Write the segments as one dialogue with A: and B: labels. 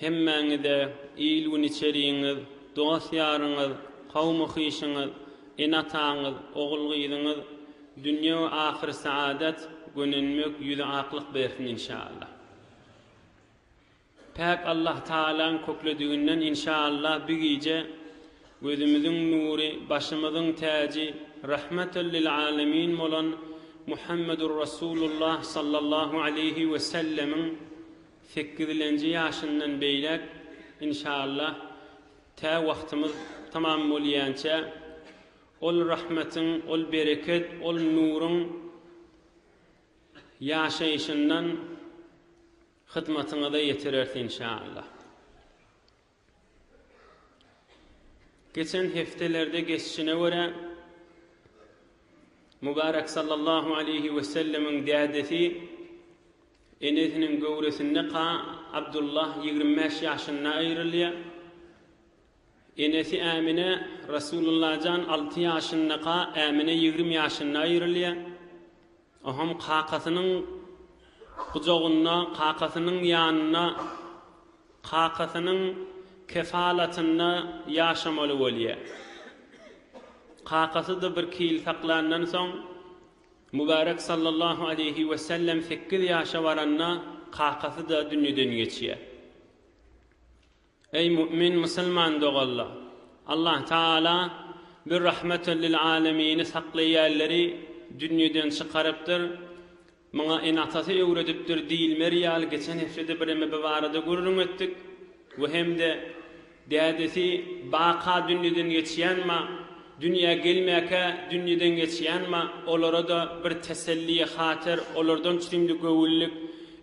A: Hemmäňize il-gün içerigiňiz, dost-ýaryňyz, kowmy-hyşyňyz, ene-ataňyz, ogul-gyzyňyz dünýe we ahyr saadat, gönenmek, ýüzi aklyk bersin inşaallah. Päk Allahtagalaň köklediginden inşaallah bi gije gözümiziň nury, başymyzyň täji, rahmatal lil alemin bolan Muhammedur Rasulullah sallallahu aleýhi wesellemiň, Sekizilenji ýaşyndan beýläk inşallah tä wagtymyz tamam bolýança ol rahmetiň, ol bereket, ol nuruň ýaşaýşyndan hyzmatyňyza ýetireris inşallah. Geçen hepdelerde geçişine görä, Mübärek sallallahu aleýhi wesellemiň dädesi, enesiniň göwresinde ka Abdullah ýigrimi bäş ýaşynda aýrylýar. Enesi Ämine Resulullajan alty ýaşynda ka Ämine ýigrimi ýaşynda aýrylýar. Oňam kakasynyň gujagynda, kakasynyň ýanynda, kakasynyň kefalatynda ýaşamaly bolýar. Kakasy-da birki ýyl saklandan soň, Mübärek sallallahu aleýhi wesellem sekiz ýaşa baranda kakasy-da dünýeden geçýär. Eý mu'min musulman doganlar! Allah Tagala bir rahmetel lil alemini saklaýanlary dünýeden çykarypdyr, muňa enatasy öwredipdir diýilmeri ýaly geçen heftede bireme bu barada gürrüň etdik we hem-de dädesi baka dünýeden geçýän ma Dünýä gelmäkä dünýeden geçýänma, olara-da bir teselliye hater olardan çürimli göwünlik,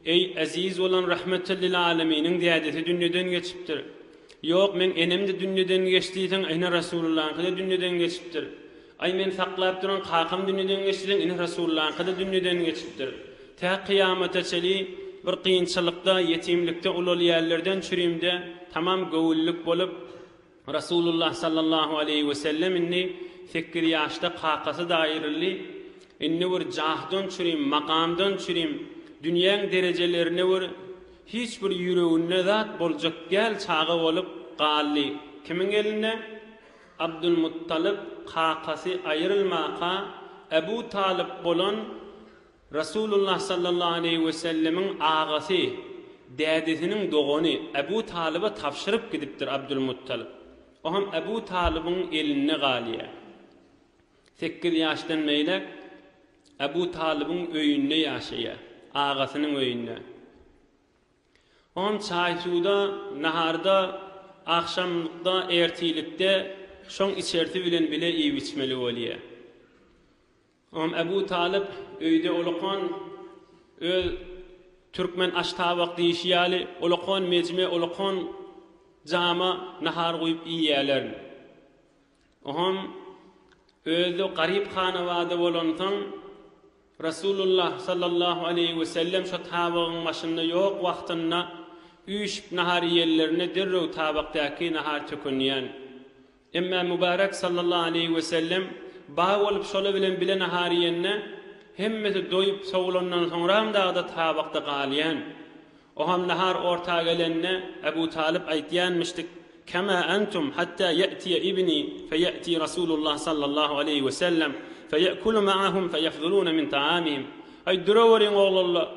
A: Eý, eziz bolan Rahmetel lil Aleminiň dädesi dünýeden geçipdir. Ýok, meň enem-de dünýeden geçdiýseň, ene Resulullaňky-da dünýeden geçipdir. Aý, men saklap duran kakam dünýeden geçdiýseň, ene Resulullaňky-da dünýeden geçipdir. Tä kyýamata çeli bir kynçylykda, ýetimlikde ulalýärlerden çürimde tamam göwünlik bolup, Rasulullah sallallahu aleýhi wesellem indi sekiz ýaşda kakasyda aýryldy. Indi bir jahdan çürim, makamdan çürim, dünýäň derejelerine bir hiç bir ýüreginde zat boljak däl çaga bolup galdy. Kimiň elinde? Abdulmuttalyp kakasy aýrylmaka Ebu Talyp bolan Resulullah sallallahu aleýhi wesellemiň agasy, dädesiniň dogany Ebu Talyba tabşyryp gidipdir Abdulmuttalyp. O hem Ebu Talybyň elinde galýar. Sekiz ýaşdan beýläk Ebu Talybyň öýünde ýaşaýar, agasynyň öýünde. O hem çaý-suwda, naharda, agşamlykda, ertirlikde şoň içersi bilen bile iýip-içmeli bolýar. Imam Ebu Talyp öýde olakan öz türkmen aştabak diýşi ýaly olakan mejme, olakan jama nahar guýup iýýärler. Oňam özi garyp hanawada bolansoň Resulullah sallallahu aleýhi we sellem şo tabygyň başynda ýok wagtynda üýşüp nahar iýenlerinde derrew tabakdaky nahar tökünýän. Emma Mübärek sallallahu aleýhi wesellem baý bolup şolar bilen bile nahar iýende, hemmesi doýup sowulandan soňram dagda tabakda galýan. Oham nahar orta gelende Ebu Talyp aýtýanmyşdyk, Kema entum hatta ýa'tiýa ibni feýa'ti Rasulullah sallallahu aleýhi wesellem feýa'kulu ma'ahum feýafzuluna min ta'amihim. Aý duraweriň oglanlar,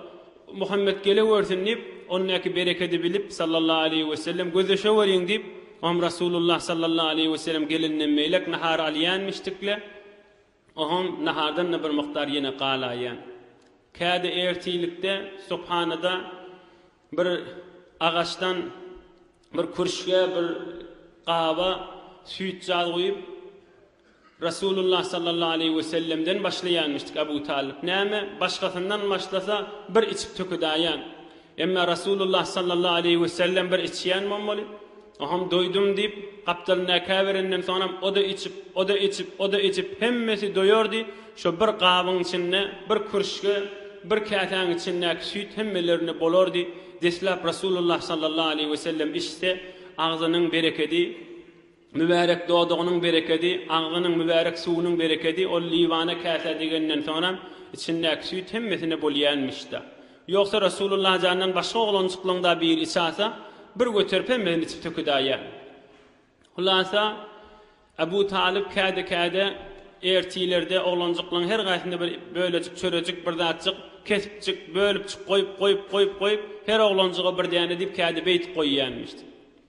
A: Muhammet gelewersin diýip, ondaky berekedi bilip, sallallahu aleýhi wesellem, Gözleşeweriň diýip, oňam Resulullah, sallallahu aleýhi wesellem, gelenden beýläk nahar alýanmişdik-le, oňam nahardan-da bir mukdar ýene galaýýan. Käde ertirlikde subhanada bir agaçdan bir kürşgä, bir gaba süýt-jaz guýup, Resulullah sallallahu aleýhi we sellemden başlaýanmyşdyk Abu Talyp näme, başgasyndan başlasa bir içip tökedaýan. Emma Resulullah sallallahu aleýhi we sellem bir içýän bommaly. Oham doýdum diýip, gapdalyndaky käberenden soňam o-da içip, o-da içip, o-da içip hemmesi doýardy, şo bir gabyň içinde, bir kürşge, bir käsäň içindäki süýt hemmelerine bolardy, deslap Resulullah sallallahu aleýhi we sellem içse agzynyň berekedi, Mübärek dodagynyň berekedi, agzynyň mübärek suwunyň berekedi ol Liwana käsä degenden soňra içindäki süýt hemmesine bolýänmiş-da. Ýogsa Resulullah jandan başga oglanjyklaň-da biri içe alsa, bir göterip hemmesini içip tökedäýýär. Hulasa, Abu Talyp käde-käde ertilerde oglanjyklaň her gaýsyna bir bölejik, çörejik, bir zatjyk, kesipjik, bölüpjik goýup, goýup, goýup, goýup, her oglanjyga bir däne diýip käde beýdip goýýänmiş.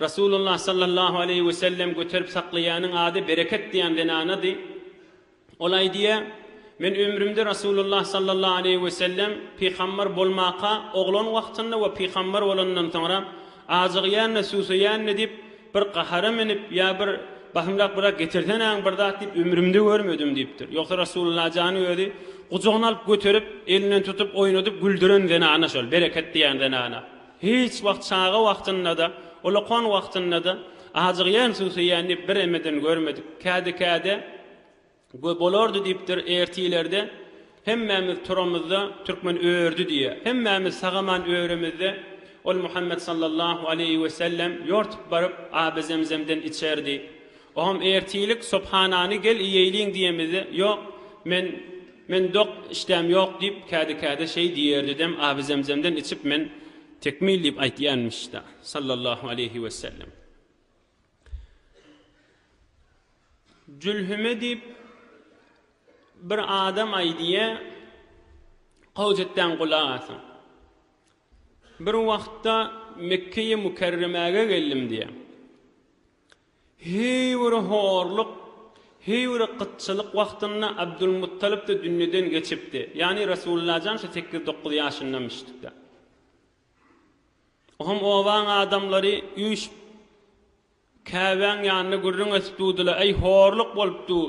A: Resulullah sallallahu aleýhi we sellem göterip saklaýanyň ady Bereket diýen zenanady. Ol aýdýar, Men ömrümde Resulullah sallallahu aleýhi we sellem pygambar bolmaka oglan wagtynda we pygambar bolandan soňra ajygýan-da, susaýan-da diýip, bir gahara minip, ýa bir Bahymrak biraz getirsenäň bir zat diýip ömrümde görmedim diýipdir. Ýogsa Resulullah jany özi gujagyna alyp göterip, elinden tutup, oýnadyp güldüren zenana şol Bereket diýen zenana. Hiç wagt çaga wagtynda-da, ulakon wagtynda-da ajygýan, susaýan diýip bir emeden görmedik. Käde-käde Göý bolardy diýipdir, ertilerde hemmämiz turamyzda türkmen ördi diýýär. Hemmämiz sagaman öremizde ol Muhammet sallallahu aleýhi wesellem ýortup baryp, aby zemzemden içerdi. Ogam ertirlik Subhanany gel iýeýliň diýemizde ýok men men dok işdäm ýok diýip kädi kädi şeý diýerdidem Abi Zemzemden içip men tekmil diýip aýtýanmyşda Sallallahu aleýhi wesellem. Jülhüme diýip bir adam aýdýa gowja etdäň gulak asyň. Bir wagtda Mekkeýi Mukerremäge geldim diýe. Heý bir horluk, heý bir gytçylyk wagtynda Abdulmuttalyp-da dünýeden geçipdi. Ýagny Resulullajan şu sekiz-dokuz ýaşyndamyşdykda. Oňam obaň adamlary üýşüp, Käbäň ýanynda gürrüň edip durdylar, Äý, horluk bolup dur.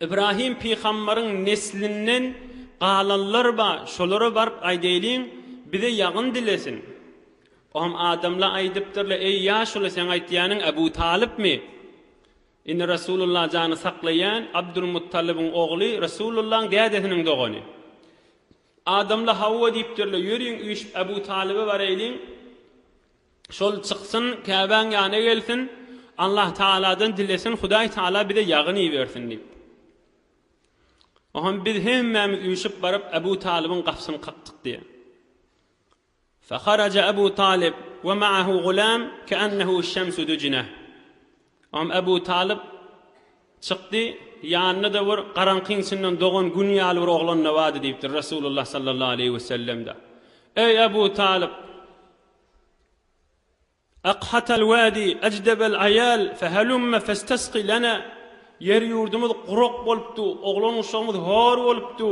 A: Ibrahim pygambaryň neslinden galanlar ba, şolara baryp aýdaýlyň, bize ýagyn dilesin. Ohm adamla aýdypdyrlar, Eý, ýaşuly, seň aýtýanyň Abu Talypmy? Indi Rasulullah jany saklaýan Abdul Muttalybyň ogly, Rasulullahyň dädesiniň dogany. Adamla hawa diýipdirler, ýörüň üýşüp Abu Talyba baraýlyň. Şol çyksyn, Käbäň ýana gelsin, Allahtagaladan dilesin, Hudaýtagala bize ýagyn ibersin diýip. Oňam biz hemmämiz üýşüp baryp, Abu Talybyň gapysyny kakdyk diýýär. Faharaja Abu Talyb we ma'ahu gulam ke'annehu şemsu dujine. Oňam Abu Talyb çykdy, ýanynda-da bir garaňkyň içinden dogan gün ýaly bir oglan-da bardy diýipdir Resulullah sallallahu aleýhi we sellem-de. Eý Abu Talyb! Aqhat al-wadi ajdab al-ayal fahalumma fastasqi lana, Ýer-ýurdumyz gurak bolupdy, oglan-uşagymyz hor bolupdy,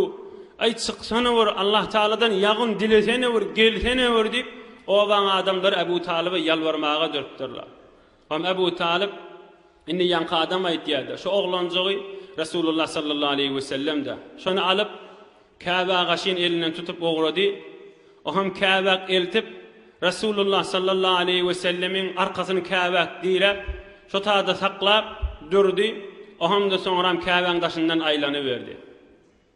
A: aý, çyksana bir, Allah tagaladan ýagyn dilesene bir, gelsene bir diýip, obaň adamlary Abu Talyba ýalbarmaga durupdyrlar. Hem Ebu Talyp indi ýaňky adam aýtýar-da, şu oglanjygy Resulullah sallallahu aleýhi wesellem-de. Şony alyp, Käbe agaçyn elinden tutup ugrady. O hem Käbäk eltip, Resulullah sallallahu aleýhi wesellemiň arkasyny Käbäk diräp, şo taýda saklap durdy. O hem-de soňram Käbäň daşyndan aýlanyberdi.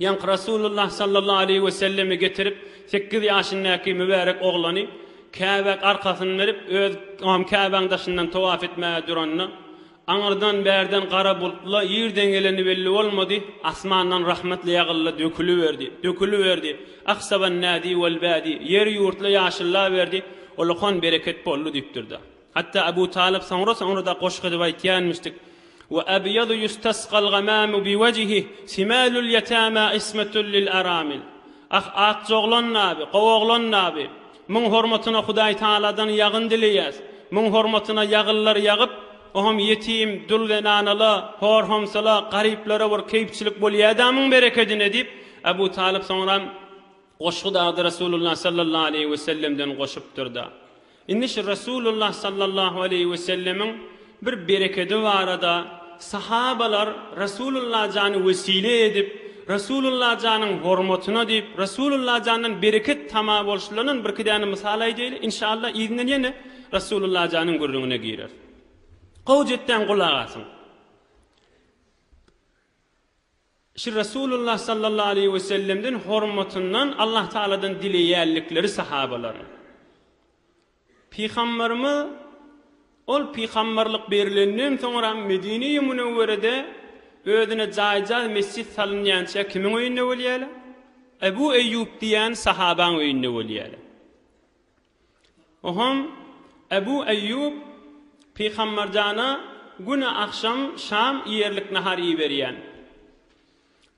A: Ýaňky Rasulullah sallallahu aleýhi we selleme getirip, sekiz ýaşyndaky mübärek oglany Käbäk arkasyny berip, öz am Käbäň daşyndan towaf etmäge duranda, aňyrdan, bärden gara bultla ýerden geleni belli bolmady, asmandan rahmetli ýagyldy, döküliberdi, döküliberdi, ahsaban nadi wal badi, ýer ýurtla ýaşyllaberdi, olakan bereket boldy diýipdir-de. Hatda Abu Talyp soňra-soňra-da goşgy edip aýtýanmyşdyk, Wa abyadu yustasgal gamamu bi wajhi, simalul yatama ismatul lil aramil. Ah, akja oglan nabi, gowy oglan nabi! Muň hormatyna Hudaý Tagaladan ýagyn dileýäs. Muň hormatyna ýagyllar ýagyp, oňam ýetim, dul zenanala, hor-homsala, garyplara bir keýpçilik bolýa-da muň berekedine diýip, Abu Talyp soňra goşgy dagdy Resulullah sallallahu aleýhi wesellemden goşupdyr-da. Indi şu Resulullah sallallahu aleýhi we sellemiň bir berekedi barada sahabalar Resulullah jany wesile edip, Resulullah janyň hormatyna diýip, Resulullah jandan bereket tama bolşularyndan birki däne mysal aýdaýly, inşaallah yzyndan ýene Resulullah janyň gürrüňine gireris. Gowy jet däň gulak asyň. Şu Resulullah sallallahu aleýhi we sellemden hormatyndan Allah Tagaladan dileýänlikleri sahabalaryň. Pygamberimiz Ol pygamberlik berilenden soňra Medine-i Münewwerede özüne jaýjaz mesjit salynýança kimiň öýünde bolýarlar? Ebu Eýýub diýýän sahabaň öýünde bolýarlar. Ohon, Ebu Eýýub, Pygamberjana güne agşam şam iýerlik nahar iýiberýän.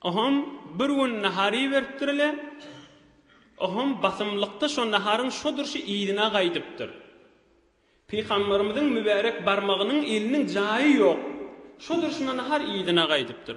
A: Ohon, bir gün nahar iýiberipdir-le, ohon basymlykda şo naharyň şo durşy yzyna gaýdypdyr. Pygamberimiziň mübärek barmagynyň eliniň jaýy ýok, şo durşuna nahar yzyna gaýdypdyr.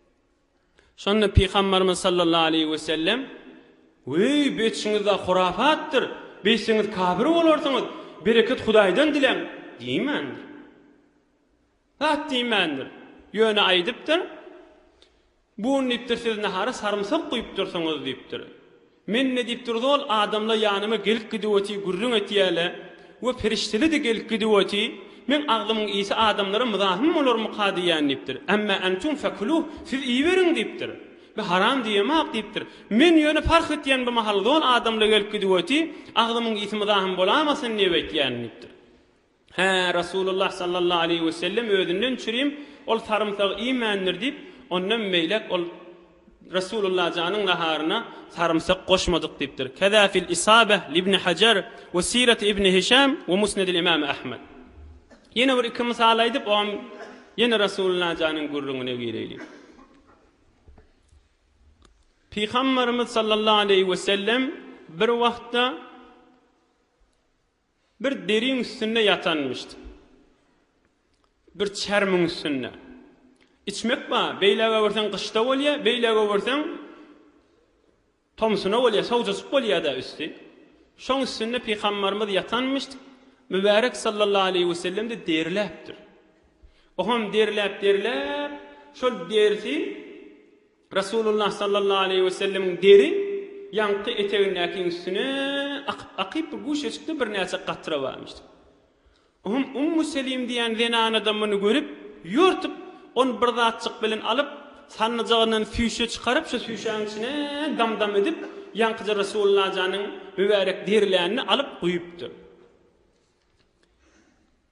A: Şonda Pygambarymyz sallallahu aleýhi we sellem, Weý, beçiňiz-ä hurafatdyr, beýtseňiz kafir bolarsyňyz, bereket Hudaýdan diläň! diýmändir. Zat diýmändir. Ýöne aýdypdyr, Bun diýipdir, siz nahara sarymsak guýupdyrsyňyz diýipdir. Men nädip durdy ol adamla ýanyma gelip gidiwoti gürrüň etýäle we perişdeledi gelip gidiwoti men agzymyň iysi adamlara mzahym bolarmyka diýýän diýipdir ämmä entum fekuluh siz iýiberiň diýipdir me haram diýemok diýipdir men ýöne parh etýän bu mahal zol adamla gelip gidiwoti agzymyň iysi mzahym bolamasyn diýip etýän diýipdir. Hä, Resulullah sallallahu aleýhi we sellem özünden çürim ol sarymsagy iýmändir diýip, ondan beýläk ol Resulullah janyň naharyna sarymsak goşmadyk diýipdir. Keza fil Isabeh libni Hajar we Siret ibni Hişam we Musnedil imam Ahmed. Ýene bir iki mysal aýdyp, ogam ýene Resulullah janyň gürrüňine gireýlik. Pygamberimiz sallallahu aleýhi we sellem bir wagtda Bir deriň üstünde ýatanmyşdy. Bir çermiň üstünde. Içmek bar, beýläge öwürseň gyşda bolýar, beýläge öwürseň tomsuna bolýar, sowjajyk bolýar-da üsti. Şoň üstünde pygambarymyz ýatanmyşdy, mübärek sallallahu aleýhi wesellem-de deriläpdir. Oňam deriläp-deriläp, şol derisi Resulullah sallallahu aleýhi we sellemiň deri ýaňky etegindäkiň üstüne akyp-akyp bir guşeçikde birnäçe gatra barmyşdy. Oňam Ummu Selim diýen zenanada muny görüp, ýortup, ony bir zatjyk bilen alyp, sannyjagyndan süýşe çykaryp, şo süýşäň içine dam-dam edip, ýaňkyja Resulullah janyň mübärek derilänini alyp guýupdyr.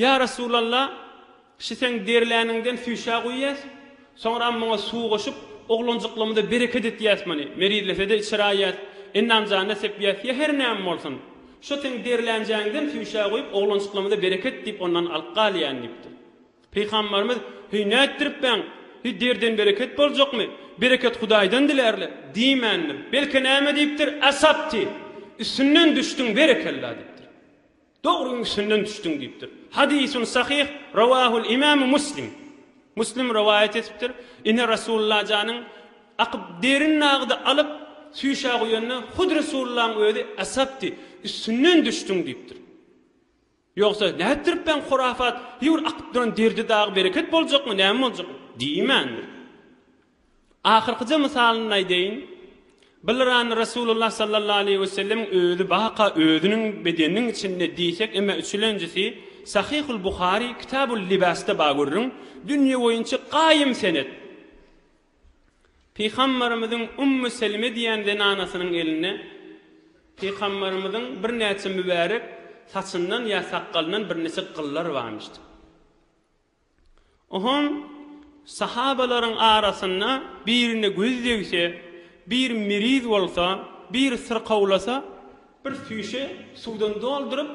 A: Ýa Resulalla, şi seň derläniňden süýşä guýýas, soňram muňa suw goşup, oglanjyklymyza bereket etýäs muny, merizlesede içir aýýas, enamjanyna sepýäs, ýa her näme bolsun, şo seň derlänjäňden süýşä guýup, oglanjyklymyza bereket diýip, ondan alyp galýan diýipdir. Pygamberimiz, Heý, nätdiripbäň? Heý, derden bereket boljakmy? Bereket Hudaýdan dilärler. Diýmändir. Belki näme diýipdir, Asabti, üstünden düşdüň, berekella diýipdir. Dogryň üstünden düşdüň diýipdir. Hadysun sahyh rawahul imam Muslim. Muslim rowaýat etipdir. Ine Resulullah janyň akyp derin nagydy alyp süýşä guýanda hut Resulullahyň özi asapdy. Üstünden düşdüň diýipdir. Ýogsa nätdirip ben hurafat hiur akyp duran derdi dagy bereket boljakmy näme boljakmy diýmändir. Ahyrkyja mysalyny aýdaýyn. Bylrany Resulullah sallallahu aleýhi we sellemiň özi baka özüniň bedeniniň içinde diýsek eme üçülenjisi Sahyhul Buhary Kitabul Libasda ba görüň, dünýe boýunça gaýym senet. Pygambarymyzyň Ummu Selime diýen zenanasynyň elinde Pygambarymyzyň birnäçe mübärek saçyndan ýa sakgalyndan birnäçe gyllar barmyşdy. Ohoň sahabalaryň arasynda birine göz degse, bir miriz bolsa, bir syrkawlasa, bir süýşe suwdan dolduryp,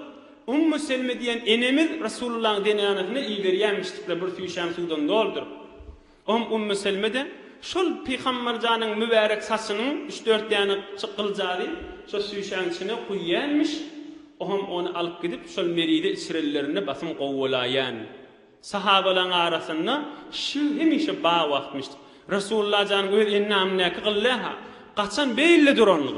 A: Ummu Selme diýen enemiz Resulullahyň zenánasyna iberýärmişdikler bir süýşäni suwdan dolduryp. Oňa Ummu Selme-de, Şol Pygamberjanyň mübärek saçynyň üç-dört däne çykyljagy şo süýşäň içine guýýanmyş, oňam ony alyp gidip, şol merize içirenlerinde basym gowy bolaýýan. Sahabalaryň arasynda şu hemişe bar wagtmyş. Resullajanyň öz endamyndaky gyl-dä-ha, gaçan beýle duran gyl.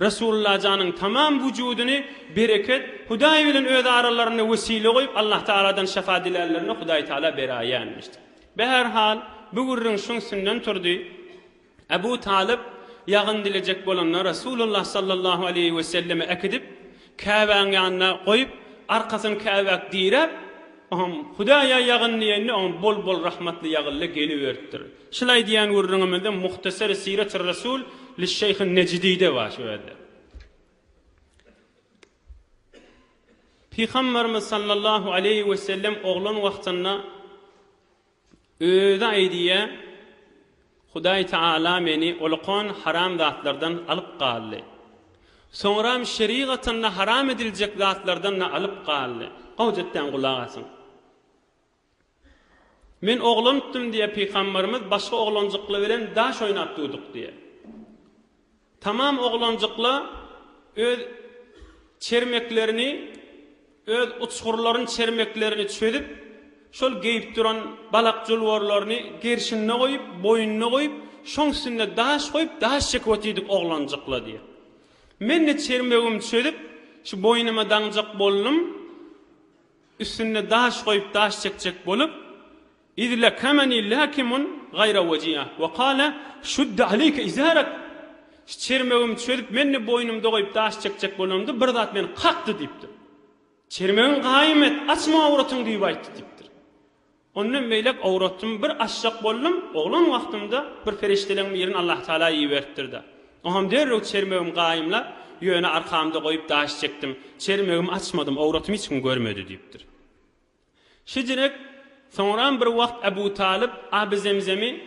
A: Resulallajanyň tamam wujudyny bereket, Hudaý bilen öz aralarynda wesile goýup Allahtagaladan şyfa dilänlerine Hudaýtagala beraýýänmişdi. Bäherhal, bu gürrüň şuň üstünden turdy. Abu Talyp ýagyn dilejek bolanda Resulallah sallallahu aleýhi weselleme äkidip, Käbäň ýanyna goýup, arkasyny käbäk diräp, oňam Hudaýa ýagyn diýende, oňa bol-bol rahmatly ýagyldy, geliberipdir. Şulaý diýen gürrüňimizde Muhtasary Siratyr Resul Lişşeýhin Nejidide bar şu ýerde. Pygamberimiz sallallahu aleýhi wesellem oglan wagtynda Özi aýdýar, Hudaý Tagala meni olakan haram zatlardan alyp galdy. Soňram şerigatynda haram ediljek zatlardan-da alyp galdy. Gowja etdäň gulak asyň. Men oglanykdym diýýär pygamberimiz, başga oglanjyklar bilen daş oýnap durduk diýýär. Tamam oglanjykla öz çermeklerini, öz uçgurlaryny çermeklerini çözüp, şol geýip duran balak julwarlaryny gerşinde goýup, boýnuna goýup, şoň üstünde daş goýup, daş çekip otyrdyk oglanjykla diýýär. Men-de çermegimi çözüp, şu boýnuma daňjak boldum, üstünde daş goýup, daş çekjek bolup, Iz lakamani lakimun gaýra wajia we kale, şud aleýke izarak, Çermegim çözüp menni boýnumda goýup daş çekjek bolandy, bir zat meni kakdy diýipdir. Çermegiň gaýym et, açma awratyňy diýip aýtdy diýipdir. Ondan beýläk awratymy bir açjak boldum, oglan wagtymda bir perişdeleň birini Allah Tagala iberipdir-de. Oňam derrew çermegimi gaýymlap, ýöne arkamda goýup daş çekdim. Çermegimi açmadym, awratymy hiç kim görmedi diýipdir. Şejiräk, soňram bir wagt Abu Talyp Aby Zemzemi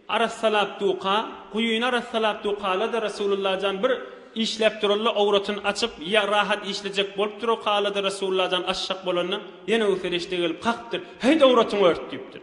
A: arassalap duka, guýyny arassalap dukalady, Rasulullah jan bir işläp duralla owratyn açyp, ýa rahat işlejek bolup durakalady, Rasulullah jan aşşak bolanda, ýene bu ferişde gelip kakdyr, Haýt owratyňy ört! diýipdir.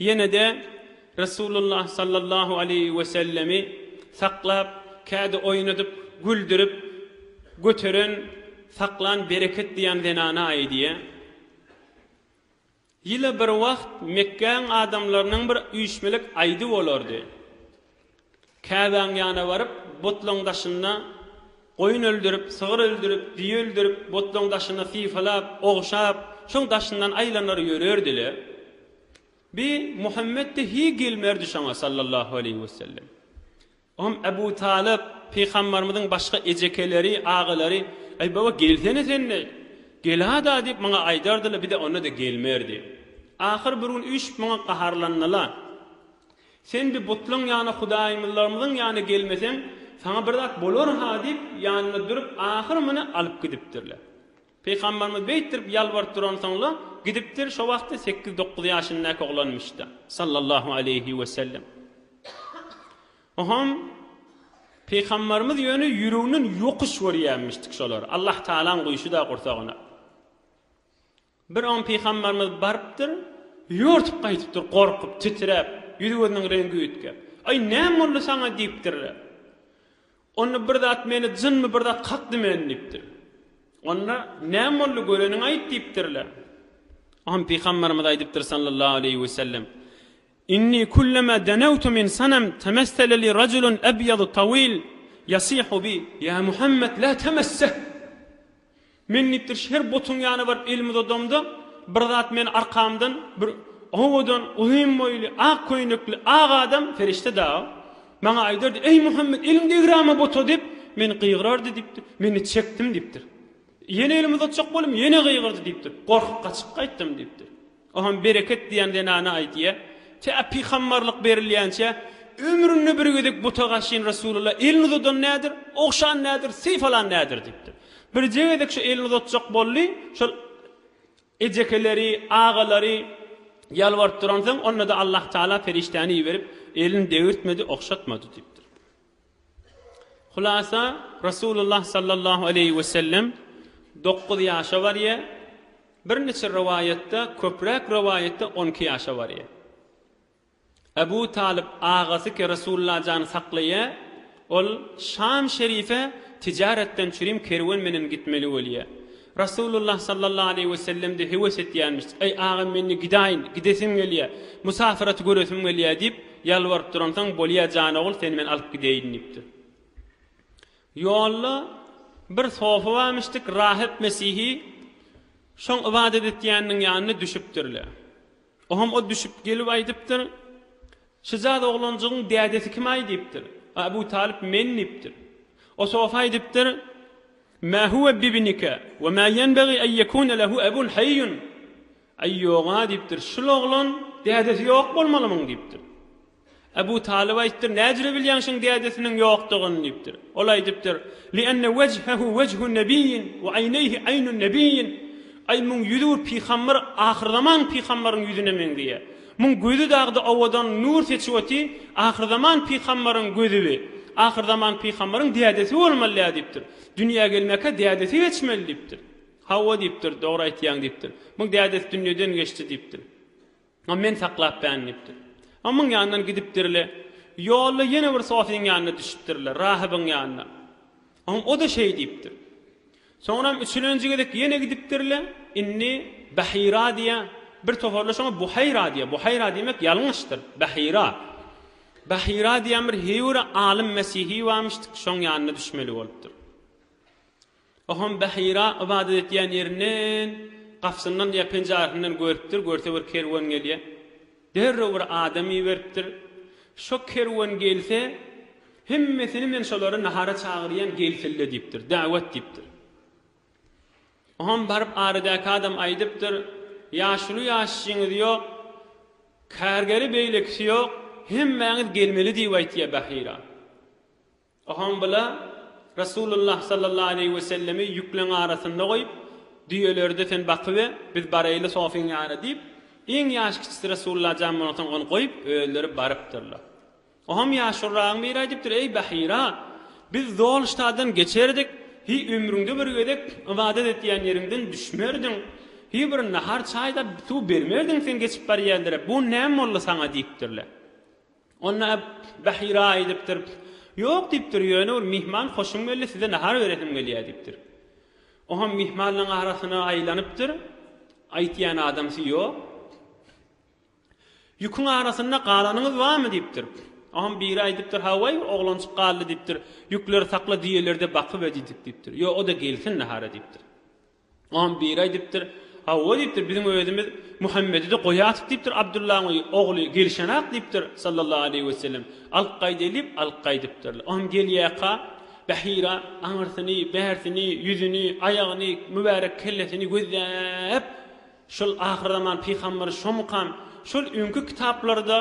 A: Ýene-de Resulullah sallallahu aleýhi wesellemi saklap, kädi oýnadyp, güldürip, göteren, saklan Bereket diýen zenana aýdýa. Ýyla bir wagt Mekgäň adamlarynyň bir üýşmelik aýdy bolardy. Käbäň ýana baryp, butlaň daşynda goýun öldürip, sygyr öldürip, düýe öldürip, butlaň daşyny sypalap, ogşap, şoň daşyndan aýlanar ýörerdi-le. Bi Muhammet-de hiý gelmerdi şoňa, sallallahu aleýhi wesellem. Oňam Ebu Talyp, pygambarymyzyň başga ejekeleri, agalary, Eý, baba, gelsene sen-de, gel-a-da diýip, maňa aýdardy-la, bi-de onda-da gelmerdi. Ahyr bir gün üýşüp maňa gaharlandy-la. Sen bi butlaň ýana hudaýmyzlarymyzyň ýana gelmeseň, saňa bir zat bolar-ha diýip, ýanynda durup, ahyr muny alyp gidipdirler. Pygamberimiz beýtdirip ýalbaryp duransoň-la, gidipdir, şo wagtda sekiz-dokuz ýaşyndaky oglanmyş-da, sallallahu aleýhi wesellem. Oňam Pygamberimiz ýöne ýüreginden ýokuş görýänmişdik şolary, Allah Tagalaň guýşy-da gursagyna. Bir on pygambarymyz barypdyr, ýortup gaýdypdyr, gorkup, titräp, ýüzi-gözüniň reňgi üýtgäp. Aý, näme boldy saňa? diýipdirler. Onda bir zat meni jynmy bir zat kakdy meni diýipdir. Onda, näme boldy, göreniňi aýt diýipdirler. On pygambarymyz aýdypdyr sallallahu aleýhi we sellem, Inni kullama denawtu min sanam temessala li rajulun abyadu tawil yasihu bi, Ýa Muhammet, la temesseh! Men diýipdir, her butuň ýana baryp elimi uzadamda, bir zat meni arkamdan bir owadan, uzyn boýly, ak köýnekli, ak adam, perişde dagy, maňa aýdardy, Eý, Muhammet, eliňi degrama buta diýip, meni gygyrardy diýipdir. Men-de çekdim diýipdir. Ýene elimi uzatjak boldum, ýene gygyrdy diýipdir. Gorkup gaçyp gaýtdym diýipdir. O hem Bereket diýen zenana aýdýar, Tä pygambarlyk berilýänçä, ömründe bir gezek buta gaşyn Resulalla elini uzadan nädir, ogşan nädir, syp alan nädir diýipdir. Birje gezek şu elini uzatjak boldy, şol ejekeleri, agalary ýalbaryp duransoň, onda-da Allahtagala perişdäni iberip, elini degirtmedi, ogşatmady diýipdir. Hulasa, Resulullah sallallahu aleýhi wesellem dokuz ýaşa barýar, birniçe rowaýatda, köpräk rowaýatda on iki ýaşa barýar. Abu Talyp agasy-ki Resulullah jany saklaýar, ol Şam şerife tijaretden çürim kerwen menen gitmeli bolýar. Rasulullah sallallahu aleýhi wesellem-de höwes etýänmiş, Eý, agam, men-de gidäýin, gidesim gelýär. Musapyraty göresim gelýär diýip, ýalbaryp duransoň, Bolýa, jan ogul, seni men alyp gidäýin diýipdir. Ýolda bir sofa barmyşdyk, rahyp mesihi şoň ybadat etýäniniň ýanyna düşüpdir-le. Oňam o düşüp gelip aýdypdyr, Şyjaz oglanjygyň dädesi kim-aý? diýipdir. Abu Talyp, Men, diýipdir. O sofy aýdypdyr, Mä huwe bibnika we mä ýenbegi en ýekune lehu ebun haýýun, Aý, ýog-a, diýipdir, şul oglan dädesi ýok bolmalymyň? diýipdir. Abu Talyp aýtdyr, Näjüre bilýäň şuň dädesiniň ýokdugyny? diýipdir. Ol aýdypdyr, Li enne wejhehu wejhun nebiyyin we aýneýhi aýnun nebiyyin, Aý, muň ýüzi bir pygamber, ahyrzaman pygamberyň ýüzüne meňzeýär. Muň gözi dagda owadan nur seçip oty, ahyrzaman pygambaryň gözibi, ahyrzaman pygambaryň dädesi bolmalyä diýipdir. Dünýä gelmäkä dädesi geçmeli diýipdir. Hawa diýipdir, dogry aýtýaň diýipdir. Muň dädesi dünýeden geçdi diýipdir. A men saklapbän diýipdir. A muň ýanyndan gidipdirle, ýolda ýene bir sofyň ýanyna düşüpdirler, rahybyň ýanyna. Oň o-da şeý diýipdir. Soňram üçülenji gezek ýene gidipdir-le, indi Bahira diýýä, bir toparlar şoňa Buhaýra diýýä, Buhaýra diýmek ýalňyşdyr, Bahira. Bahira diýýän bir hüýre alym mesihi barmyşdyk, şoň ýanyna düşmeli bolupdyr. O hem Bahira ybadat etýän ýerinden, gapysyndan diýýä penjäresinden görüpdir, görse bir kerwen gelýä. Derrew bir adam iberipdir. Şo kerwen gelse, hemmesini men şolary nahara çagyrýan, gelselle diýipdir. Dawet diýipdir. Oňam baryp aradäki adam aýdypdyr, Ýaşuly ýaşjyňyz ýok, kärgeri beýlekisi ýok, hemmäňiz gelmeli diýip aýtýa Bahira. Ohombyla Resulullah sallallahu aleýhi wesellemi ýükleň arasynda goýup, Düýeleri-de sen bakybe, biz baraýly Sofyň ýana diýip, iň ýaş kiçisi Resulullah jan bolansoň ony goýup, özleri barypdyrlar. Ohom ýaşulyragyň biri aýdypdyr, Eý, Bahyra! Biz Zolştadan geçerdik, hi ömrüňde bir gezek ybadat etýän ýeriňden düşmerdiň, hi bir nahar-çaý-da suw bermerdiň sen geçip barýanlara, bu näme boldy saňa? diýipdirler. Onda Bahira aýdypdyr, Ýok diýipdir, ýöne bir myhman hoşum geldi, size nahar beresim gelýär diýipdir. O hem myhmanlaryň arasyna aýlanypdyr, aýtýan adamsy ýok. Ýüküň arasynda galanyňyz barmy diýipdir. O hem biri aýdypdyr, Hawaý, oglanjyk galdy diýipdir, ýükleri sakla, düýeleri-de bakyber diýdik diýipdir. Ýok, o-da gelsin nahara diýipdir. Oňa biri aýdypdyr, Hawa, diýipdir, biziň özümiz Muhammedi-de goýarsyk diýipdir, Abdullaň ogly gelişenak diýipdir, sallallahu aleýhi wesellem, alyp gaýdaýly diýip, alyp gaýdypdyrlar. Oňam gelýärka, Bahira aňyrsyny, bärsini, ýüzüni, aýagyny, mübärek kellesini gözläp, Şol ahyrzaman pygamberi şomukam, şol öňki kitaplarda,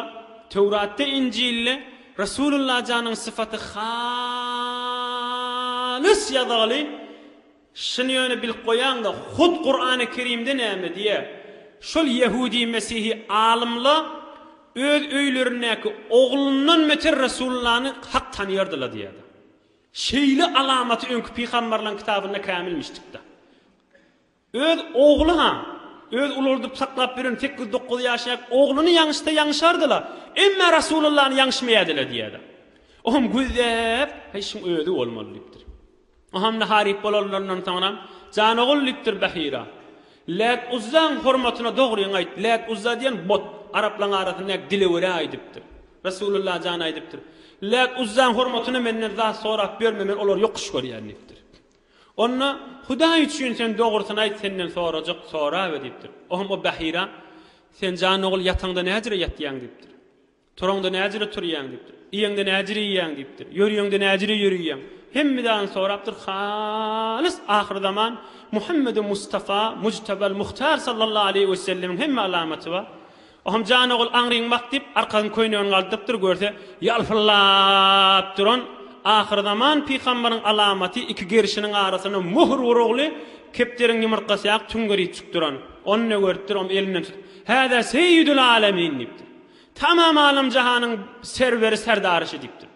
A: Töwratda, Injilde Resulullah janyň sypaty halys ýazgaly, Şuny ýöne bilip goýaňda, hut Kurany Kerimde näme diýýär? Şol ýehudy mesihi alymla öz öýlerindäki oglundan beter Resullany hak tanaýardyla diýýärdi. Şeýle alamaty öňki pygambarlaň kitabynda kämilmişdikda. Öz ogly ha, öz ulaldyp saklap ýören sekiz dokuz ýaşaýk ogluny ýaňyşsa ýaňyşardyla, emme Rasulullany ýaňyşmaýardyla diýýärdi. Oňam gözläp, Heý şuň özi bolmaly diýipdir. O hamla haryp bolanlaryndan soňra Jan ogul diýipdir Bahira. Lät Uzzaň hormatyna dogryňy aýt. Lät Uzza diýen bot, araplaň arasyndaky dilewere aýdypdyr. Resulullah jan aýdypdyr. Lät Uzzaň hormatyna menden zat sorap ýörme men olary ýokuş görýän diýipdir. Onda Hudaý üçin sen dogrusyny aýt senden sorajak sorabe diýipdir. O hem o Bahira Sen jan ogul ýataňda näjüre ýatýaň diýipdir. Turaňda näjüre turýaň diýipdir. Iýeňde näjüre iýýäň diýipdir. Ýörýeňde näjüre ýörýäň. Hemme zadyny sorapdyr, halys ahyrzaman Muhammedi Mustafa Mujtabal Muhtar sallallahu aleýhi wesellemiň hemme alamaty bar. O hem jan ogul aňryň bak diýip, arkasyny köýnegini galdyrypdyr, görse, ýalpyllap duran ahyrzaman pygambaryň alamaty iki gerşiniň arasyna möhür urugly kepderiň ýumurtgasy ýaly tüňňeripjik duran. Ony görüpdir, o hem elinden tutup, Häzä seýýidül alemin diýipdir. Tamam alam-jahanyň serweri serdary şu diýipdir.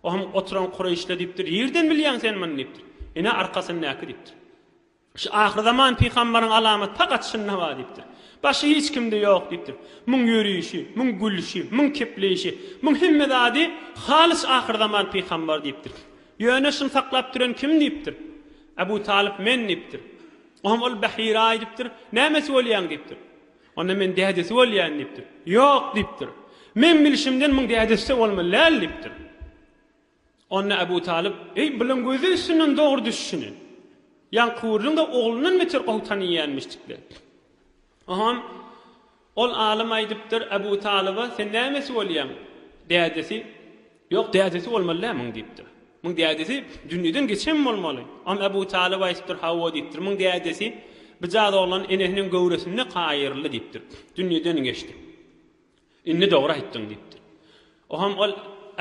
A: O hem oturan kureýşlä diýipdir, Nirden bilýäň sen muny diýipdir. Ine, arkasyndaky diýipdir. Şu ahyrzaman pygambaryň alamaty pagat şunda-ha diýipdir. Başy hiç kimde ýok diýipdir. Muň ýörişi, muň gülşi, muň kepleýşi, muň hemme zady halys ahyrzaman pygambary diýipdir. Ýöne şuny saklap duran kim diýipdir. Abu Talyp men diýipdir. O hem ol Bahira-aý diýipdir. Nämesi bolýaň diýipdir. Onda men dädesi bolýan diýipdir. Ýok diýipdir. Meň bilşimden muň dädesi-de bolmaly däl diýipdir. Onda Abu Talyp, Eý, bulan gözi üstünden dogry düşüşini. Ýan Kuwrlyň-da oglundan beter gowy tanaýýanmyşdikler. Oňam ol alym aýdypdyr Abu Talyba, Sen nämesi bolýaň? Dädesi. Ýok, dädesi bolmaly-dä muň, diýipdir. Muň dädesi dünýeden geçen bolmaly. Oňa Ebu Talyp aýdypdyr, Hawa, diýipdir. Muň dädesi bijaz oglan enesiniň göwresinde gaýyryldy, diýipdir. Dünýeden geçdi. Indi dogry aýtdyň, diýipdir. Oňam ol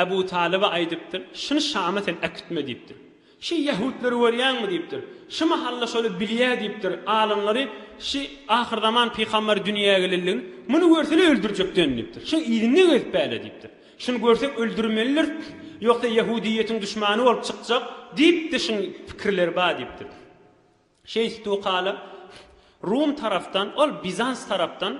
A: Ebu Talyba aýdypdyr, Şuny Şama sen äkitme, diýipdir. Şi ýahudlary görýäňmi? diýipdir. Şi mahal-da şoly bilýär diýipdir. Alymlary şi ahyrzaman pygamberi dünýä gelenligini, muny görsele öldürjekden diýipdir. Şi yzyna gezip bäle diýipdir. Şuny görsek öldürmelidiris, ýogsa ýahudyýetiň duşmany bolup çykjak diýip-de şiň pikirleri bar diýipdir. Şeýtdi-u kala, Rum tarapdan, ol Bizans tarapdan,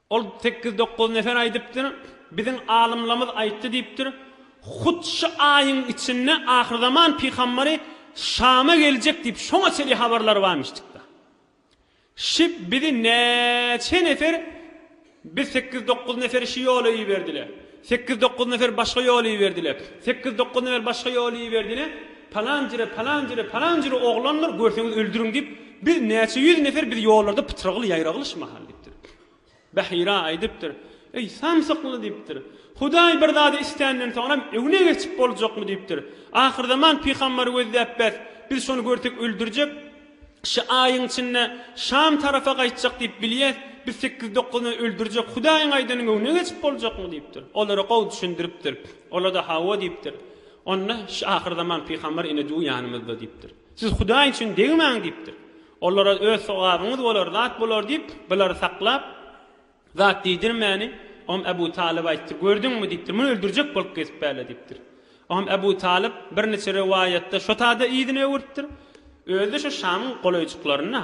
A: Ol sekiz-dokuz nefer aýdypdyr. Biziň alymlamyz aýtdy diýipdir. Hut şu aýyň içinde ahyrzaman pygambary Şama geljek diýip şoňa çeli habarlar barmyşdykda. Şi bizi näçe nefer biz sekiz-dokuz neferi şu ýola iberdile. Sekiz-dokuz nefer başga ýola iberdile. Sekiz-dokuz nefer başga ýola iberdile. Palan jire, palan jire, palan jire oglandyr, görseňiz öldüriň diýip, biz näçe ýüz nefer biz ýollarda pytragly, ýaýragly şu mahal diýipdir. Bahira aýdypdyr. Eý, samsykly! diýipdir. Hudaý bir zady isländen soňram, öňüne geçip boljakmy? diýipdir. Ahyrzaman pygambary gözläp bäs, biz şony görsek öldürjek, şy aýyň içinde Şam tarapa gaýtjak diýip bilýäs, biz sekiz-dokuzyny öldürjek, Hudaýyň aýdanyň öňüne geçip boljakmy? diýipdir. Olara gowy düşündiripdir. Olar-da hawa diýipdir. Onda şy ahyrzaman pygambar ine-du ýanymyzda diýipdir. Siz Hudaý üçin degmäň diýipdir. Olara öz sogabyňyz bolar zat bolar diýip, bulary saklap, zat diýdirmäni, Oňa Äbu Talyp aýtdy. Gördüňmi? diýipdir. Muny öldürjek bolup gezip bärle diýipdir. Oňa Äbu Talyp birniçe rowaýatda şo tada yzyny öwüripdir. Özi-de şo Şamyň golaýjyklarynda.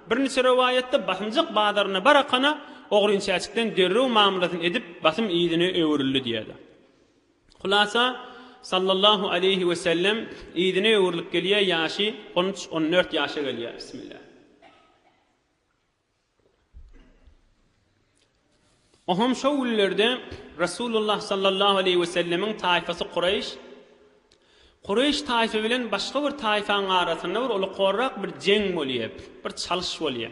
A: Birniçe rowaýatda basymjak bazaryna barakana, ogryn çäçikden derrew mamlasyny edip, basym yzyna öwrüldi diýýärler. Hulasa, Sallallahu aleýhi we sellem yzyna öwrülip gelýär, ýaşy on üç, on dört ýaşa gelýär. Bismillah. Oňam şo günlerde Resulullah sallallahu aleýhi we sellemiň taýfasy Kureýş Kureýş taýfy bilen başga bir taýfaň arasynda bir uly korrak bir jeň bolýar, bir çalyş bolýar.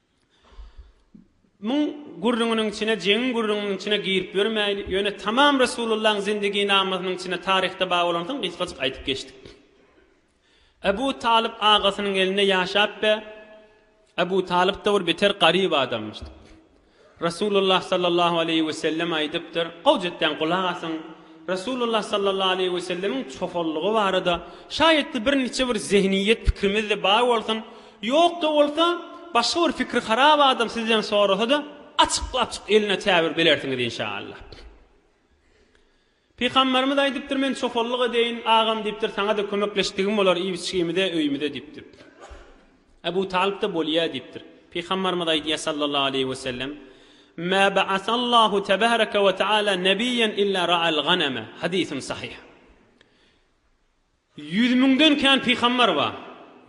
A: Muň gürrüňiniň içine, jeňiň gürrüňiniň içine girip ýörmäýli, ýöne tamam Resulullahyň zindiginamasynyň içine taryhda bar bolansoň gysgajyk aýdyp geçdik. Ebu Talyp agasynyň elinde ýaşap be, Ebu Talyp-da bir beter garyp adamymyş. Resulullah sallallahu aleýhi we sellem aýdypdyr, gowja etseň gulak asyň, Resulullah sallallahu aleýhi we sellemiň çopanlygy barada şaýatly bir niçe bir zehniýet pikrimiz-de bar bolsun, ýok-da bolsa, başga bir pikri harap adam sizden sorasa-da, açyk-açyk eline tä bir belersiňiz inşaallah. Pygamberimiz aýdypdyr, Men çopanlyk edeýin, agam diýipdir, saňa-da kömekleşdigim bolar, iýip-içgimize, öýümize diýipdir. Ebu Talyp-da bolýa diýipdir. Pygamberimiz aýdýar sallallahu aleýhi we sellem, Mä ba'asallahu tebareke we ta'ala nebiyyen illa ra'al ganeme, hadysun sahyh. Ýüz müňden kän pygambar bar.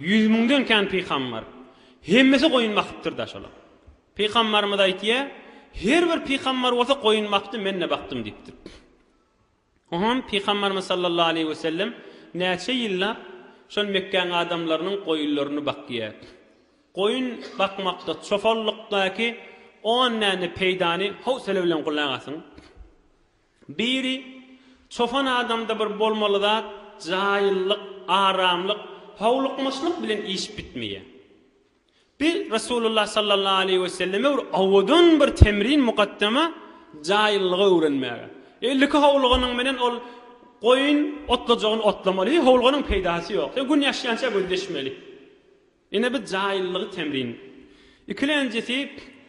A: Ýüz müňden kän pygambar. Hemmesi goýun bakypdyr-da şolar. Pygambarymyz aýtýar, Her bir pygambar bolsa goýun bakdy, men-de bakdym diýipdir. Oňam pygambarymyz sallallahu aleýhi wesellem näçe ýyllap şol Mekgäň adamlarynyň goýunlaryny bakýar. Goýun bakmakda, çopanlykdaky on däne peýdany howsala bilen gulak asyň. Biri, Çopan adamda bir bolmaly zat, jaýyllyk, aramlyk, howlukmaçlyk bilen iş bitmeýär. Bi Resulullah sallallahu aleýhi we selleme bir owadan bir temrin mukaddama jaýyllygy öwrenmäge. Elliki howluganyň menen ol goýun otlajagyny otlamaly, howluganyň peýdasy ýok. Sen gün ýaşýança gözleşmeli. Ine bu jaýyllygy temrin. Ikilenjisi,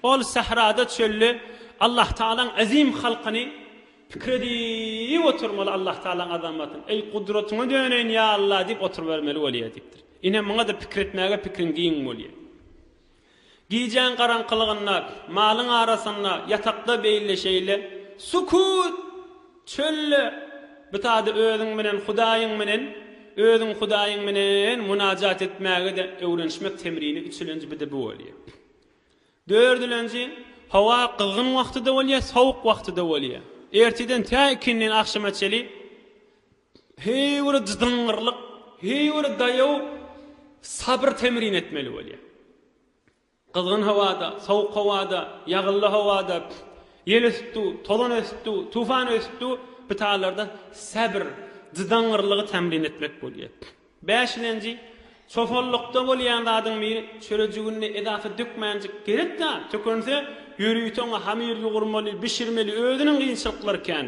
A: ol sährada çölde Allahtagalaň äzim halkyny pikir edip oturmaly Allahtagalaň azamatyny, Eý gudratyňa döneýin ýa Alla diýip oturybermeli bolýar diýipdir. Ine muňada pikir etmäge pikriň giň bolýar. Gijäň garaňkylygynda, malyň arasynda, ýatakda beýle şeýle, sukut! Çölde bu sada özüň bilen Hudaýyň bilen, özüň Hudaýyň bilen munajat etmäge-de öwrenişmek temrini üçülenji bide bu bolýar. Dördülenji, howa gyzgyn wagty-da bolýar, sowuk wagty-da bolýar. Ertirden tä ikindin agşama çeli heý bir dyzyňňyrlyk, heý bir daýaw sabyr temrini etmeli bolýar. Gyzgyn howada, sowuk howada, ýagylly howada, ýel ösüp dur, tozan ösüp dur, tufan ösüp dur, bu taýlarda säbr, jydaňňyrlygy tämlin etmek bolýar. Bäşilenji, Çopanlykda bolýan zadyň biri, çörejiginde edasy dökmänjik gerek zat, tökünse, ýörite oňa hamir ýugurmaly, bişirmeli, özüniň kynçylyklary kän.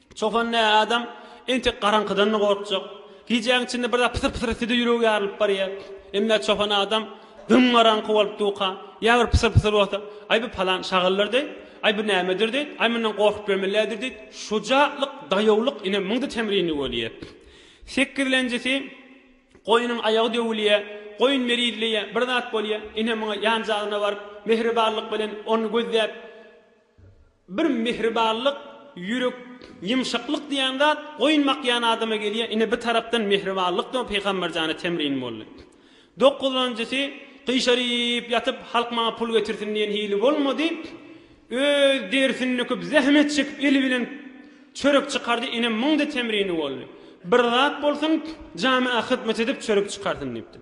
A: Çopan nä adam, entek garaňkydan-da gorkjak. Gijäň içinde bir zat pysyr-pysyr etse-de ýüregi ýarylyp barýar. Emmä çopan adam dym garaňky bolup duka, ýa bir pysyr-pysyr bolsa, Aý bu palan şagyldyr deý, aý bu nämedir deý, aý mundan gorkup ýörmellädir deý, şujatlyk, daýawlyk ine muňda temrinli bolýar. Sekizlenjisi, goýnuň aýagy döwülýär, goýun merizleýär, bir zat bolýar, ine muňa ýanjagzyna baryp, mähribanlyk bilen ony gözläp, Bir mihribanlyk, ýürek ýymşaklyk diýen zat goýun bakýan adama gelýär. Ine bu tarapdan mihribanlyk-da Pygamber jana temrin boldy. Dokuzynjysy, gyşaryp ýatyp, halk maňa pul getirsin diýen hili bolmady. Öz derisini döküp, zähmet çekip, eli bilen çörek çykardy. Ine muň-da temrini boldy. Bir zat bolsun, jamyýa hyzmat edip çörek çykarsyn diýipdir.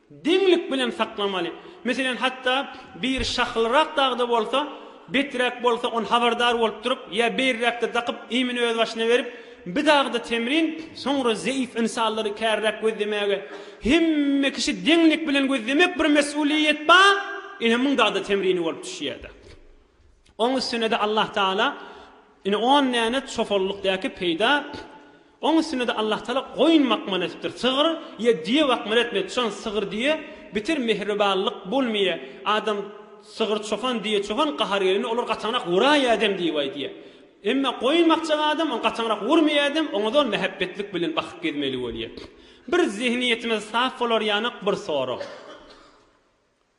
A: Deňlik bilen saklamaly. Meselem, hatda biri şahylrak dagda bolsa, beträk bolsa, ony habardar bolup durup, ýa beýrräkde dakyp, iýmini öz başyna berip, bi dagda temrin, soňra zeýif ynsanlary käriräk gözlemäge. Hemme kişi deňlik bilen gözlemek bir mesulyýet ba, ine muň dagda temrini bolup düşýärda. Oň üstüne-de Allatagala ine on däne çopanlykdäki peýda Oň üstünede Allahtagala goýun bakma nesipdir, sygyr ye düye bakma etmedi, çoan sygyr düye bitir mehribanlyk bolmye, adam sygyr çopan düye çopan gahar gelende olar gataňrak wuraýa edem diyip aýdýa. Emme goýun bakjak adam oň gataňrak wurmye edem oňa zol mehebbetlik bilen bakyp gezmeli bolýa. Bir zehniýetimiz sap bolar ýanak bir sorag.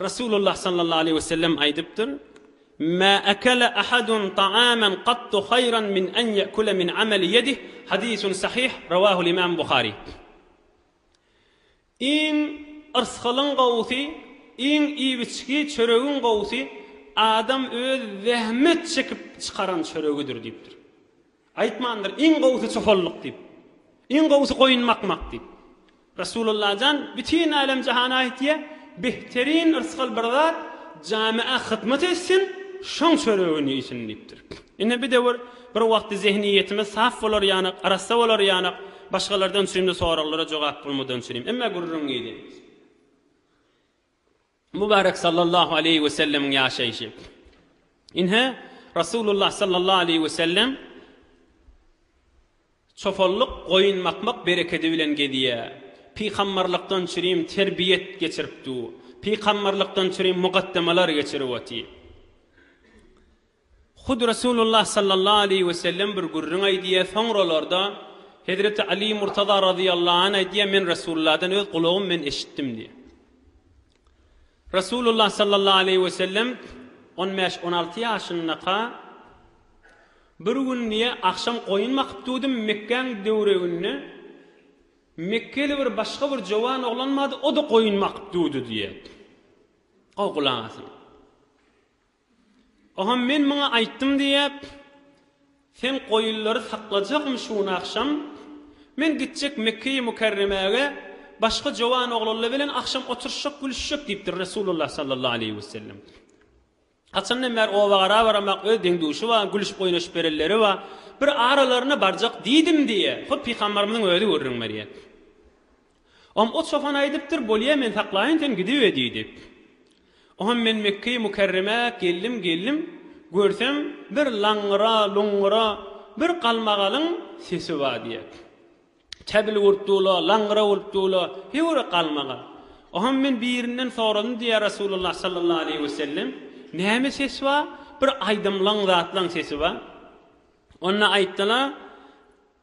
A: Resulullah sallallahu aleýhi wesellem aýdypdyr, Mä ekele ahadun ta'amen gattu haýran min en ýekule min ameli ýedih, hadisun sahyh, rawahul imam Buhari. Iň yrsgalyň gowusy, iň iýip-içgi çöregiň gowusy adam öz zähmet çekip çykaran çöregidir diýipdir. Aýtmandyr, iň gowusy çopanlyk diýip. Iň gowusy goýun bakmak diýip. Resulullah jan bütin älem-jahana aýtýa, Behterin yrsgal bir zat jamiä hyzmat etsin, şoň çöregini iýsin diýipdir. Ine bir döwür, bir wagty zehniýetimiz saf bolar ýanak, arassa bolar ýanak, başgalardan çüýnli soraglara jogap bolmadan çüýnüm. Emma gürrüň giýdi. Mübärek sallallahu aleýhi wesellemiň ýaşaýşy. Ine, Resulullah sallallahu aleýhi wesellem çopanlyk, goýun bakmak berekedi bilen gezýär. Pygamberlikden çürim terbiýet geçirip dur. Pygamberlikden çürim mugaddemalar geçirip otyr. Hut Resulullah sallallahu aleýhi wesellem bir gürrüň aýdýar, soňralarda Hezreti Aly Murtaza razyýallahu anh aýdýar, Men Resulullahdan öz gulagym bilen eşitdim diýýär. Resulullah sallallahu aleýhi wesellem on bäş, on alty ýaşyndaka bir gün diýýär, agşam goýun bakyp durdum, Mekgäň döwreginde mekgeli bir başga bir jowan oglan bardy, o-da goýun bakyp durdy diýýär. Gowy gulak asyň. Ogam men muňa aýtdym diýýäp, sen goýunlary saklajakmy şu gün agşam? Men gitjek Mekgeýi Mükerremäge, başga jowan oglanlar bilen agşam oturyşjak, gülüşjek diýipdir Resulullah sallallahu aleýhi wesellem. Haçandan bäri oba-gara baramak, öz deň-duşy bar, gülüşip-oýnaşyp berenleri bar. Bir aralaryna barjak diýdim diýýär. Hut pygamberimiziň özi gürrüň berýär. Om o çopan aýdypdyr, Bolýa, men saklaýyn, sen gidibe diýdi. Oňam men Mekge-i Mükerremä geldim, geldim, görsem, bir laňňyra, luňňura, bir galmagalyň sesi bar diýýär. Käbili bolup dur-la, laňňyra bolup dur-la, heýwere galmagal. Oňam men birinden soradym diýýär Resulullah sallallahu aleýhi we sellem, Näme ses bar? Bir aýdymlaň, zatlaň sesi bar. Onda aýtdylar,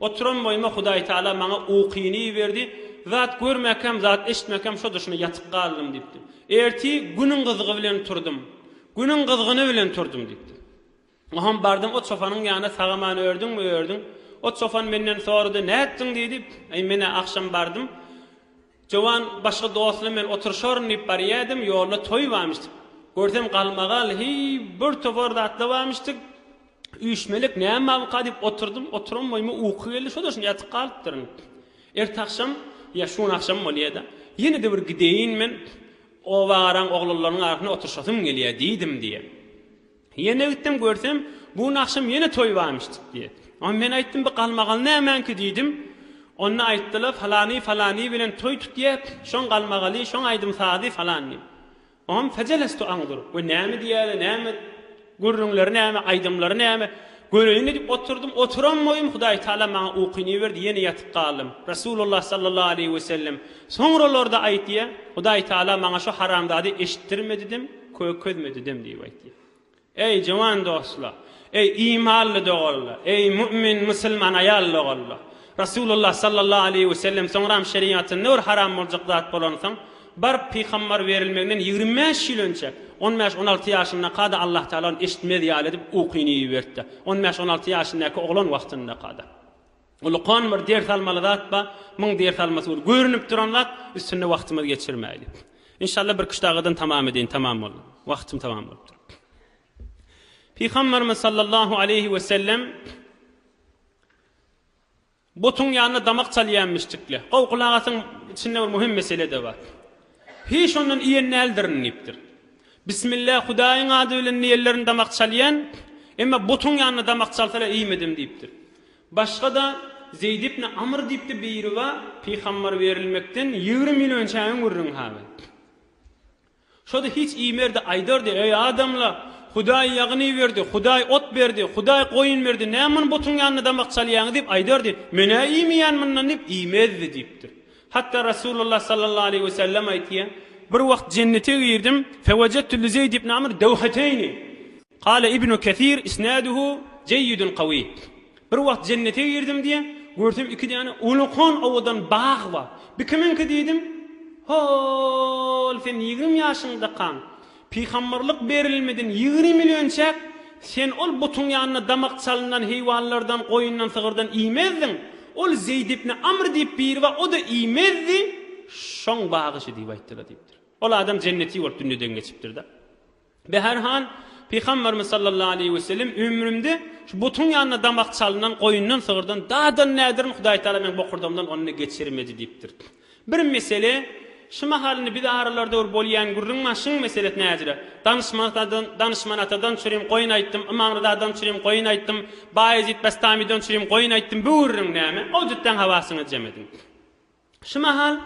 A: Oturan boýuma Hudaýtagala maňa ukyny iberdi, zat görmäkäm, zat eşitmäkäm şo duşuna ýatyp galdym diýipdir. Ertir Günüň gyzgy bilen turdum. Günüň gyzgyny bilen turdum diýipdir. Oňam bardym o çopanyň ýanyna sag-aman ördüňmi, ördüň. O çopan menden sorady, nätdiň diýdi. Aý men-ä agşam bardym. Jowan başga dostuna men oturyşaryn diýip barýaýdym, ýolda toý barmyşdyk. Görsem galmagal, heý, bir topar zatlar barmyşdyk. Üýşmelik näme barmyka diýip oturdym, oturan boýuma uky geldi, şo-da şunda ýatyp galypdyryn. Ertagşam, ýa şu gün agşam bolýa-da, ýene-de bir gideýin men, obagaraň oglanlarynyň arasynda oturyşasym gelýär diýdim diýýär. Ýene gitdim, görsem, bu nagşym ýene toý barmyş çykdy. Onda men aýtdym, bu galmagal nämäňki diýdim. Onda aýtdylar, falany falany bilen toý tutýa, şoň galmagaly, şoň aýdym-sazy falan diýip. Oňam fajelestu aňdyr. We näme diýýäler, näme, gürrüňleri näme, aýdymlary näme, göreýin-le diýip oturdym. Oturan boýum Hudaýtagala maňa ukyny berdi, ýene ýatyp galdym. Resulullah sallallahu aleýhi wesellem soňralarda aýtýa, Hudaýtagala maňa şu haramzady eşitdirme diýdim. Köýük közmedi dem diýip aýtýar. Eý, jowan dostlar! Eý, imanly doganlar! Eý, mu'min, musulman aýal doganlar! Resulullah sallallahu aleýhi we sellem soňram şeriatynda bir haram boljak zat bolansoň, baryp pygambar berilmeginden ýigrimi bäş ýyl önçe, on bäş, on alty ýaşyndaka-da Allah Tagala ony eşitmez ýaly edip ukyny iberipdir. On bäş, on alty ýaşyndäki oglan wagtyndaka-da. Ulukan bir ders almaly zat ba, müň ders almasy boldy. Görünip duran zat, üstünde wagtymyzy geçirmäýlik. Inşallah bir küşt agadan tamam edeýin, tamam boldy. Wagtym tamam bolup dur. Pygamberimiz sallallahu aleyhi ve sellem Botun ýanyna damak çalýanmyşdykle. Gow gulagatyň içinde bir möhüm mesele de bar. Hiç ondan iýen däldirin diýipdir. Bismillah Hudaýyň ady bilen diýenlerini damak çalýan, emma botun ýanyna damak çalsalar iýmedim diýipdir. Başga-da, Zeýd ibn Amr diýipdi Beýruba pygambar berilmekden ýigrimi ýyl önçäňiň gürrüňi hal et. Şo-da hiç iýmerdi, aýdardy, Eý, adamla, Hudaý ýagyn iberdi, Hudaý ot berdi, Hudaý goýun berdi, näme muny butuň ýanynda damak çalýaňyz diýip aýdardy, Men-ä iýmeýän mundan diýip iýmezdi diýipdir. Hatda Resulullah sallallahu aleýhi we sellem aýtýar, Bir wagt jennete girdim, Fewejettu li Zeýd ibn Amr dewheteýni. Kâle Ibnu Kesîr, Isnâduhu jeýidun kawî. Bir wagt jennete girdim diýýär, görsem iki däne ulkan owadan bag bar. Bu kimiňki diýdim. Hol sen ýigrimi ýaşyňdakaň, pygamberlik berilmeden ýigrimi ýyl önçäk sen ol butuň ýanynda damak çalnan heýwanlardan, goýundan, sygyrdan iýmezdiň. Ol Zeýd ibni Amr diýip biri bar, o-da iýmezdi. Şoň bagyşy diýip aýtdylar diýipdir. Ol adam jenneti bolup dünýeden geçipdir-de. Behar han, Pygamberimiz sallallahu aleýhi we sellem, Ömrümde şu butuň ýanynda damak çalnan goýundan, sygyrdan dadan näderin, Hudaý Tagala meň bokurdagymdan ony-da geçirmedi diýipdir. Bir mesele, şu mahal indi biz aralarda bir bolýan gürrüň bar, şuň meselesi näzire. Danyşman-atadan, Danyşman-atadan çürim goýun aýtdym, Ymamryzadan çürim goýun aýtdym, Baýezit Bestamydan çürim goýun aýtdym, bu gürrüň näme? Owjutdan habar syňyjam edin. Şu mahal,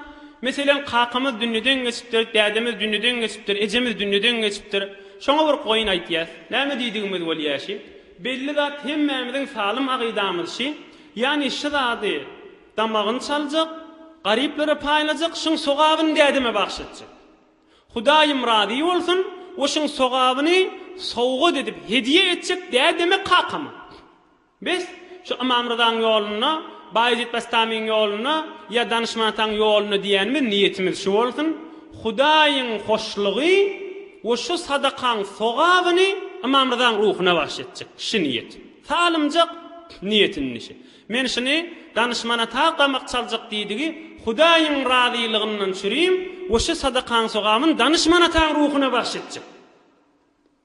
A: meselem, kakamyz dünýeden geçipdir, dädemiz dünýeden geçipdir, ejemiz dünýeden geçipdir. Şoňa bir goýun aýtýas. Näme diýdigimiz bolýa şi? Belli zat hemmämiziň salym agydamyz şi. Ýani şi zady damagyny çaljak, garyplara paýlajak, şiň sogabyny dädeme bagş etjek. Hudaýym razy bolsun we şiň sogabyny sowgat edip, hedýe etjek dädeme, kakama. Biz şu Ymam Ryzaň ýolunda, Baýezit Bestamyň ýolunda ýa Danyşman Ataň ýolunda diýýänimiz niýetimiz şu bolsun, Hudaýyň hoşlugy we şu sadakaň sogabyny Ymam Ryzaň ruhuna bagş etjek şi niýet. Salymjak niýet indi şi. Men şini Danyşman Ata gamak çaljak diýdigi Hudaýyň razylygyndan çürim we şi sadakaň sogabyn Danyşman Ataň ruhuna bagş etjek.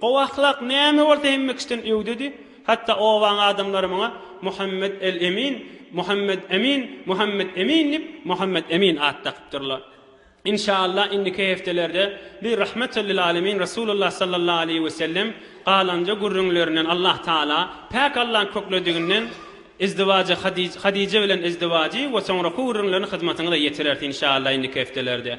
A: Gowy ahlak näme bolsa hemmekişden öwdedi, hatda obaň adamlary muňa Muhammet el Emin, Muhammet Emin, Muhammet Emin diýip, Muhammet Emin at dakypdyrlar. Inşaallah indiki heftelerde biz Rahmetel lil Alemin Resulullah Sallallahu Aleýhi Wesellem galanja gürrüňlerinden Allah Taala Päk Allaň köklediginden Izdiwajy Hadij Hadije bilen Izdiwajy we soňraky gürrüňlerini hyzmatyňyza ýetireris inşaallah indiki heftelerde.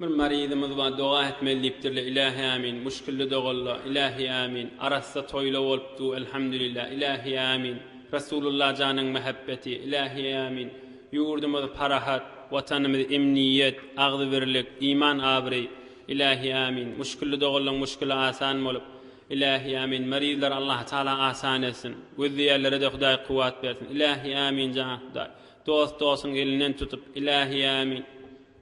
A: Bir maryzymyz bar doga etmeli diýipdirle ilähi ämin muşkilli dogalla ilähi ämin arassa toýla bolupdu elhamdülillah ilähi ämin Rasulullah janyň mähebbeti ilähi ämin ýurdumyz parahat watanymyz emniýet agzybirlik iman abraý ilähi ämin muşkilli dogallaň muşkili asan bolup ilähi ämin maryzlary Allah taala asan etsin gözleýärlerede hudaý kuwwat bersin ilähi ämin jan hudaý dost dostuň elinden tutup ilähi ämin.